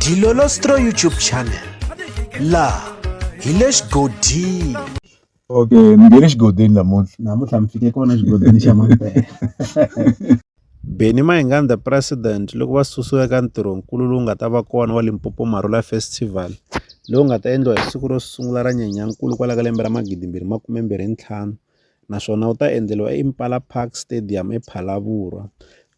Dilolostro YouTube channel laha hi le xigodini okay ni nge le xigodini namuntlha namuntlha mi fike kona xigodini xa mampela Benny Mayengani the president loko va susiwa eka ntirhonkulu lowu nga ta va kona wa Limpopo Marula Festival lowu nga ta endliwa hi siku ro sungula ra Nyenyankulu kwala ka lembe ra magidi mbirhi makume mbirhi ntlhanu naswona wu ta endleriwa eImpala Park Stadium ePhalaborwa.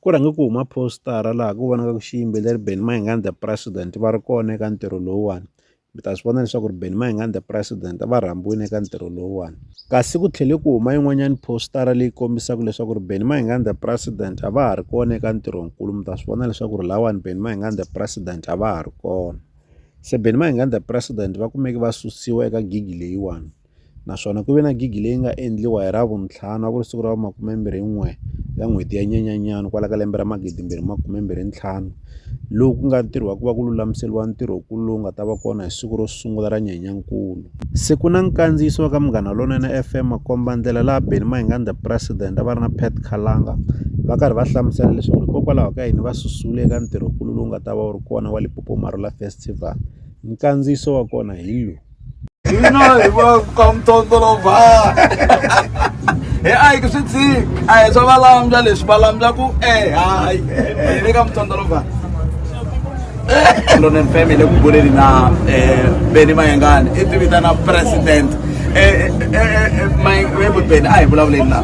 Ku rhange ku huma phositara laha ku vonaka ku xiyimbeleri Benny Mayengani The President va ri kona eka ntirho lowuwani. Mi ta swi vona leswaku ri Benny Mayengani The President va rhambiwile eka ntirho lowuwani. Kasi ku tlhele ku huma yin'wanyana phositara leyi kombisaka leswaku ri Benny Mayengani The President a va ha ri kona eka ntirhonkulu. Mi ta swi vona leswaku ri lahawani Benny Mayengani The President a va ha ri kona. Se Benny Mayengani The President va kumeke va susiwa eka gigi leyiwani. naswona ku ve na gigi leyi nga endliwa hi Ravuntlhanu a ku ri siku ra makumembirhi-n'we ya n'hweti ya Nyenyenyani kwala ka lembe ra magidimbirhi makumembirhi ntlhanu lowu ku nga ntirho wa ku va ku lulamiseriwa ntirho ku lowu nga ta va kona hi siku ro sungula ra Nyenyankulu. Se ku na nkandziyiso wa ka Munghana Lonene FM makomba-ndlela laha Benny Mahingani the President a va ri na Pat Khalanga va karhi va hlamusela leswaku hikokwalaho ka yini va susiwile eka ntirho-kulu lowu nga ta va wu ri kona wa Limpopo Marula Festival nkandziyiso wa kona hi lowu. Pinoy, welcome to Dolova. ai ku swi dziki a hi swa valamja leswi valamja ku e hayi hi le ka mutondolova lonen family ku buleni na beni mayengane i tivitana president mayengane beni a hi vulavuleni na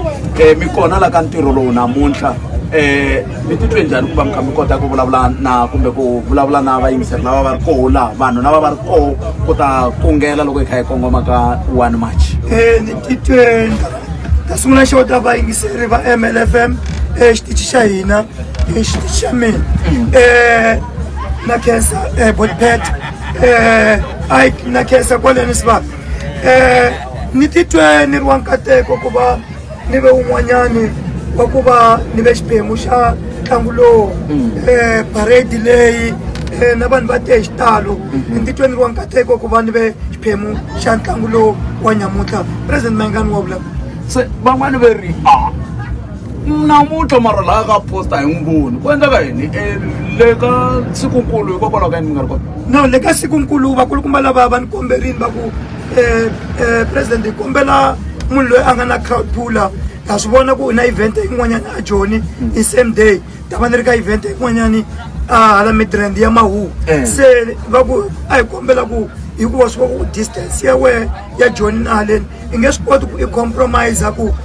mi kona la ka ntirho lowu namuntlha um mi titwe njhani ku va mi kha mi kota ku vulavula na kumbe ku vulavula na vayingiseri lava va ri koho laha vanhu lava va ri koho ku ta kungela loko hi kha hi kongoma ka one march e ni titwe ta sungula xo ta vayingiseri va mlfm exitichi xa hina exitichi xa mina um na khensa um botpet um ike na khensa kwaleni sivaka um ni titwe ni ri wa nkateko ku va ni ve un'wanyani wa ku va ni ve xiphemu xa ntlangu lowu um parade leyi um na vanhu va te hi xitalo mhm. ni titweni ri wa nkateko ku va ni ve xiphemu xa ntlangu lowu wa nyamutlha president mayingani wa vulavula se van'wani ve ri a ah, namuntlha mara laha ka posta hi n'wi voni ku endleka yini e, le ka sikunkulu hikokwalaho ka yini mi nga ri kona no le ka sikunkulu vakulukumba lava va ni komberini va ku eh, eh, president hi kombela munhu loyi a nga na crowd puller ha swi vona ku u na event yin'wanyana a joni hi same day ta va ni ri ka event yin'wanyani a hala midrand ya mahu Eh. se va ku a hi kombela ku hikuva swi va ku distance ya wehe ya joni na haleni i nge swi koti ku i compromise ku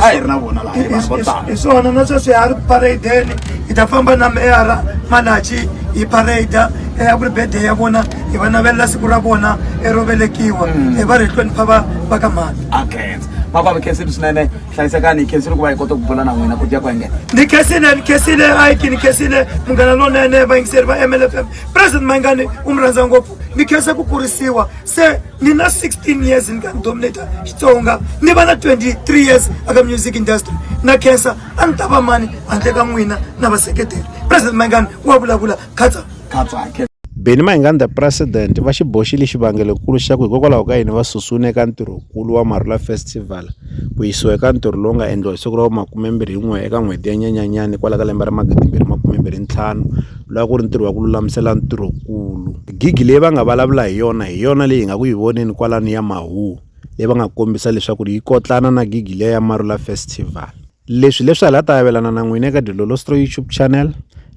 a hi ri na vona laha hi vanhu vo tala hi swona na sweswi ha ri paradeni hi ta famba na meyara malachi hi parada eya ku ri bede ya vona hi va navelela siku ra vona ero velekiwa mm. hi va ri hi hlonipha va va ka mali akhensa makwami khensile swinene hlayisekani hi khensile ku va hi kota ku bula na n'wina ku dya ku engena ni khensile ni khensile aiki ni khensile munghana lonene vayingiseri va mlfm president mayingani u mi rhandza ngopfu ni khensa ku kurisiwa se ni na 16 years ni ka ni dominata xitsonga ni va na 23 years aka music industry na khensa a ni ta va mani handle ka n'wina na vaseketeri president mayingani wa vulavula khatsa khatsake beni mayingani the president va xi boxile xivangelokulu xa ku hikokwalaho ka yini va susiwini eka ntirhokulu wa marula festival ku yisiwa eka ntirho lowu nga endliwa hi siku ra vumakumembirhi yin'we eka n'hweti ya nyanyanyani kwala ka lembe ra magidi mbirhi makumembirhi ntlhanu loko a ku ri ntirho wa ku lulamisela ntirhokulu gig leyi va nga vulavula hi yona hi yona leyi hi nga ku yi voneni kwalano ya mahuhu leyi va nga kombisa leswaku yi kotlana na gig leya ya marula festival leswi leswi hala ta avelana na n'wina eka dilolostro youtube channel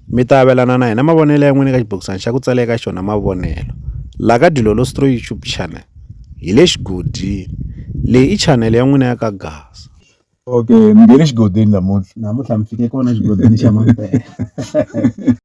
mi ta avelana na hina mavonelo ya n'wina eka xibokisana xa ku tsala eka xona mavonelo la ka dilolostro youtube channel hi le xigodini leyi i channel ya n'wina ya ka gasa okay mi nge le xigodini namuntlha namuntlha mi fike kona xigodini xa mampela